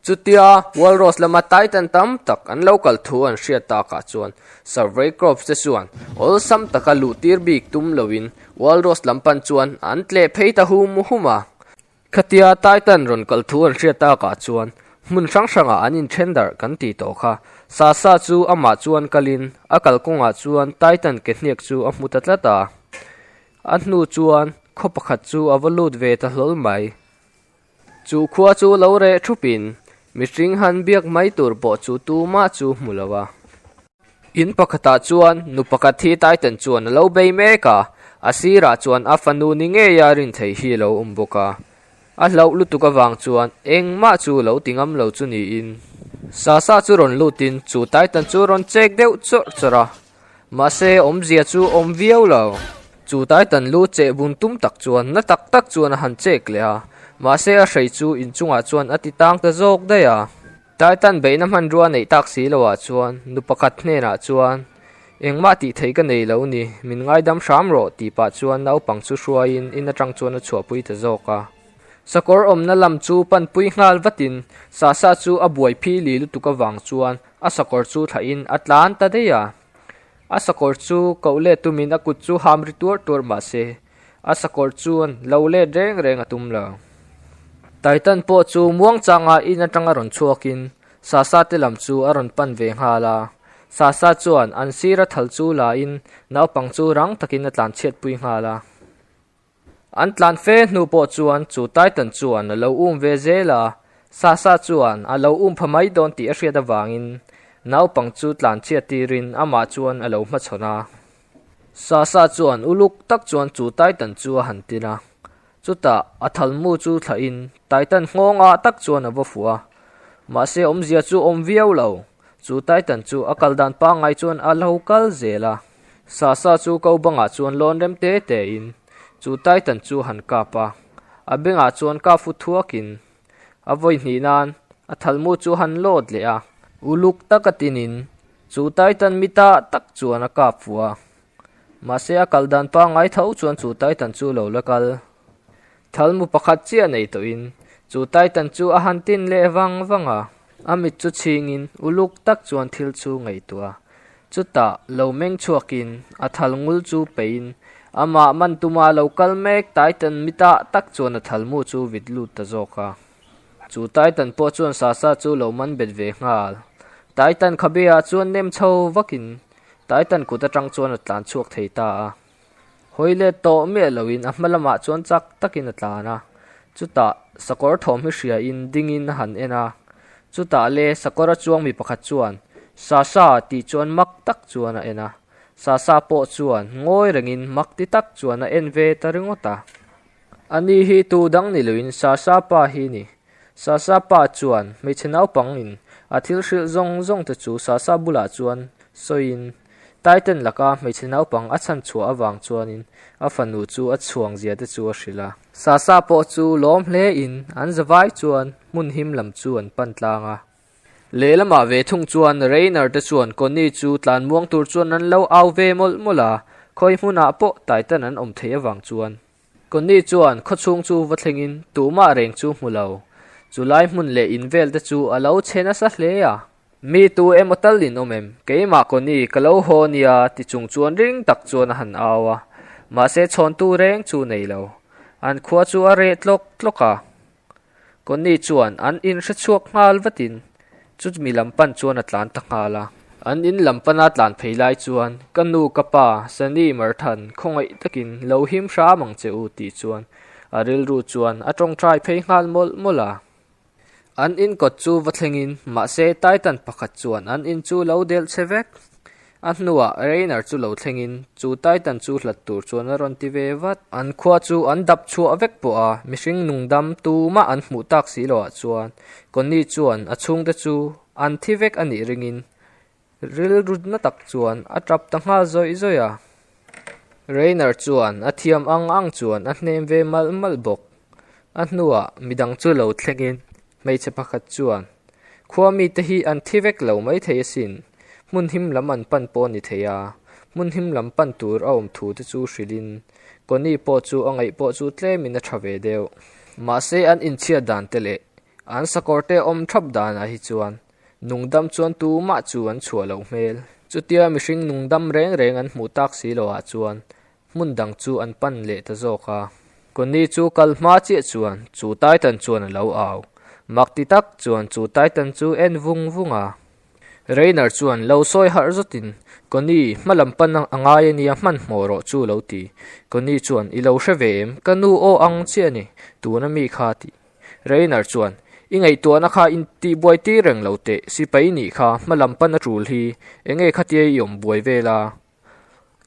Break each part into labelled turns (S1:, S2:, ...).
S1: Chutia Walrus lama Titan tam tak an lo kal thu an hriat takah chuan Survey Corps te chuan awlsam taka luhtir bik tum loin Walrus lam pan chuan an tleh phei ta hum hum a. Khatia Titan rawn kal thu an hriat takah chuan hmun hrang hrangah an inthen darh kan ti tawh kha. Sasa chu amah chuan kalin a kal kawngah chuan Titan ke hniak chu a hmu ta tlat a. A hnu chuan khaw pakhat chu a va lut ve ta hlawl mai. Chu khua chu lo reh thupin mihring han biak mai tur pawh chu tumah chu hmu lo a. In pakhatah chuan nu pakhat hi Titan chuan a lo bei mek a, a sirah chuan a fanu ni ngei a rin theih hi a lo awm bawk a. A hlauh lutuk avang chuan engmah chu lo ti ngam lo chu niin Sasa chu rawn lutin chu Titan chu rawn chek deuh chawrh chawrh a. Mahse, awmzia chu awm viau lo. Chu Taitan lu che bun tum tak chuan na tak tak chuan a han chek leh a. Mahse, a hrei chu inchungah chuan a ti tang ta zawk daih a. Taitan beihna hmanrua a neih tak si lohah chuan nu pakhat hnenah chuan, Engmah tih theih ka nei lo ni, min ngaidam hram rawh, ti pah chuan naupang chu hruaiin in atang chuan a chhuahpui ta zawk a. Sakawr awmna lam chu panpui nghal vatin Sasa chu a buai phi li lutuk avang chuan A sakawr chu thla in a tlan ta daih a, a sakawr chu koh let tum in a kut chu ham ri tuar tuar mah se a sakawr chuan lo let reng reng a tum lo. Titan pawh chu muang changa in atang a rawn chhuak in Sasa te lam chu a rawn pan ve nghal a, Sasa chuan an sira thal chu la in naupang chu rang tak in a tlan chhiat pui nghal a. An tlan fe hnu pawh chuan chu Titan chuan a lo um ve zel a, Sasha chuan a lo um pha mai dawn tih a hriat avangin naupang chu tlan chhiat tirin amah chuan a lo hmachhawn a. Sasha chuan uluk tak chuan chu Titan chu a han tin a, chutah a thalmu chu thlahin Titan nghawng ah tak chuan a va fuh a, mahse awmzia chu awm viau lo. Chu Titan chu a kal dan pangngai chuan a hlo kal zel a, Sasa chu ko bangah chuan lawn rem te te in chu Titan chu han kap a, a bengah chuan kap fu thuak in a vawi hnih nan a thalmu chu han lawt leh a, uluk taka tin in chu Titan mi ta tak chuan a kap fu a, mahse a kal dan pangngai tho chuan chu Titan chu lo la kal Thalmu pakhat chiah nei tawhin chu Titan chu a han tin leh vang vang a, a mit chu chhingin uluk tak chuan thil chu ngaihtuah a. Chutah lo meng chhuakin a thal ngul chu peiin amah man tuma lo kal mek Titan mita tak chuan a thalmu chu vit lut ta zawk a. Chu Titan pawh chuan Sasa chu lo man bet ve nghal. Titan khabeah chuan nem chho vakin Titan kut atang chuan a tlan chhuak thei ta a. Hawi let tawh miah loin a hma lamah chuan chak takin a tlan a. Chutah sakawr thawm hi hriain dingin a han en a. Chutah le sakawr a chuang mi pakhat chuan, Sa sa tih chuan mak tak chuan a en a. Sa sa pawh chuan ngawi rengin mak ti tak chuan a en ve ta ringawt a. Ani hi tu dang ni loin Sa sa pa hi ni. Sasa pa chuan hmeichhe naupang in a thil hrilh zawng zawng te chu Sasa bulah chuan sawi in Taiten lak a hmeichhe naupang a chhan chhuah avang chuan in a fanu chu a chhuang zia te chu a hrilh a. Sasa pawh chu lawm hle in an zavai chuan hmun him lam chu an pan tlang a. Lehlamah ve thung chuan Reiner te chuan Connie chu tlan muang tur chuan an lo au ve mawlh mawlh a, khawi hmunah pawh Taiten an awm theih avang chuan Connie chuan khawchhung chu va thlengin tumah reng chu hmu lo, chu lai hmun leh in vel te chu a lo chhe nasa hle a. Mi tu emaw tal in awm em? Keimah Connie ka lo haw nia ti chung chuan ring tak chuan a han au a, mahse chhawntu reng chu nei lo. An khua chu a reh tlawk tlawk a. Connie chuan an in hre chhuak nghal vatin chu mi lam pan chuan a tlan ta nghal a. An in lam pana tlan phei lai chuan ka nu ka pa Sunny Marthan khawngaih takin lo him hram ang che u tih chuan a rilru chuan a tawngtai phei nghal mawlh mawlh a. An in kawt chu va thlengin mahse Titan pakhat chuan an in chu lo delh che vek. A hnuah Reiner chu lo thlengin chu Titan chu hlat tur chuan a rawn ti ve vat. An khua chu an dap chhuah vek pawh a, mihring nungdam tumah an hmuh tak si lo ah chuan Connie chuan a chhungte chu an thi vek a nih ringin rilru na tak chuan a tap ta nghal zawih zawih a. Reiner chuan a thiam ang ang chuan a hnem ve malh malh bawk. A hnuah mi dang chu lo thlengin hmeichhe pakhat chuan, Khua mite hi an thi vek lo mai thei asin, hmun him lam an pan pawh a ni thei a, hmun him lam pan tur a awm thu te chu hrilhin Connie pawh chu a ngaih pawh chu tlemin a tha ve deuh. Mahse an inchhiat dan te leh an sakawr te awm thap danah hi chuan Nungdam chuan tu mah chu an chhuah loh hmel. Chutia mihring nungdam reng reng an hmuh tak si lo ah chuan hmun dang chu an pan leh ta zawk a. Connie chu kal hma chiah chuan chu Titan chuan a lo au. Mak ti tak chuan chu Titan chu en vung vung a. Rainer chuan lo sawi harh zawt in, Connie, hma lam pan a ngai a nia hman hmawh rawh chu lo ti. Connie chuan, I lo hre ve em? Ka nu aw ang chiah a ni, tuna mi kha a tih. Rainer chuan, I ngaihtuahna kha in tihbuai tir reng lo teh, Sipai nih kha hma lam pan a tul hi enge khatia i awm buai vel a?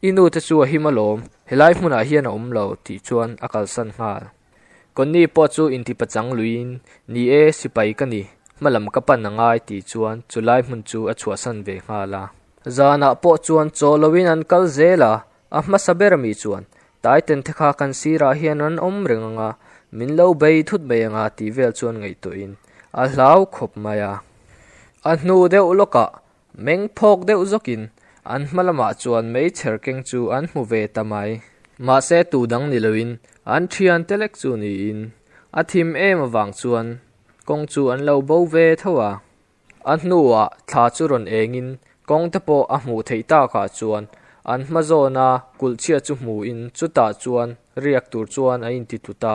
S1: I nu te chu a him alawm, helai hmunah hian a awm lo tih chuan a kalsan nghal. Connie pawh chu intipachang luiin, Ni e, Sipai ka ni, hma lam ka pan a ngai tih chuan chulai hmun chu a chhuahsan ve nghal a. Zanah pawh chuan chaw loin an kal zel a, A hmasa ber ami chuan, Taitente kha kan sirah hian an awm reng ang a, min lo bei thut mai ang a tih vel chuan ngaihtuahin a hlau khawp mai a. A hnu deuh lawkah meng phawk deuh zawkin an hma lamah chuan meichher keng chu an hmu ve ta mai. Mahse tu dang ni loin an thian te lek chu niin a thim em avang chuan kawng chu an lo bo ve tho a. A hnuah thla chu rawn engin kawng te pawh a hmuh theih tak ah chuan an hma zawn a kulh chhiat chu hmuh in chutah chuan riak tur chuan a inti tlu ta.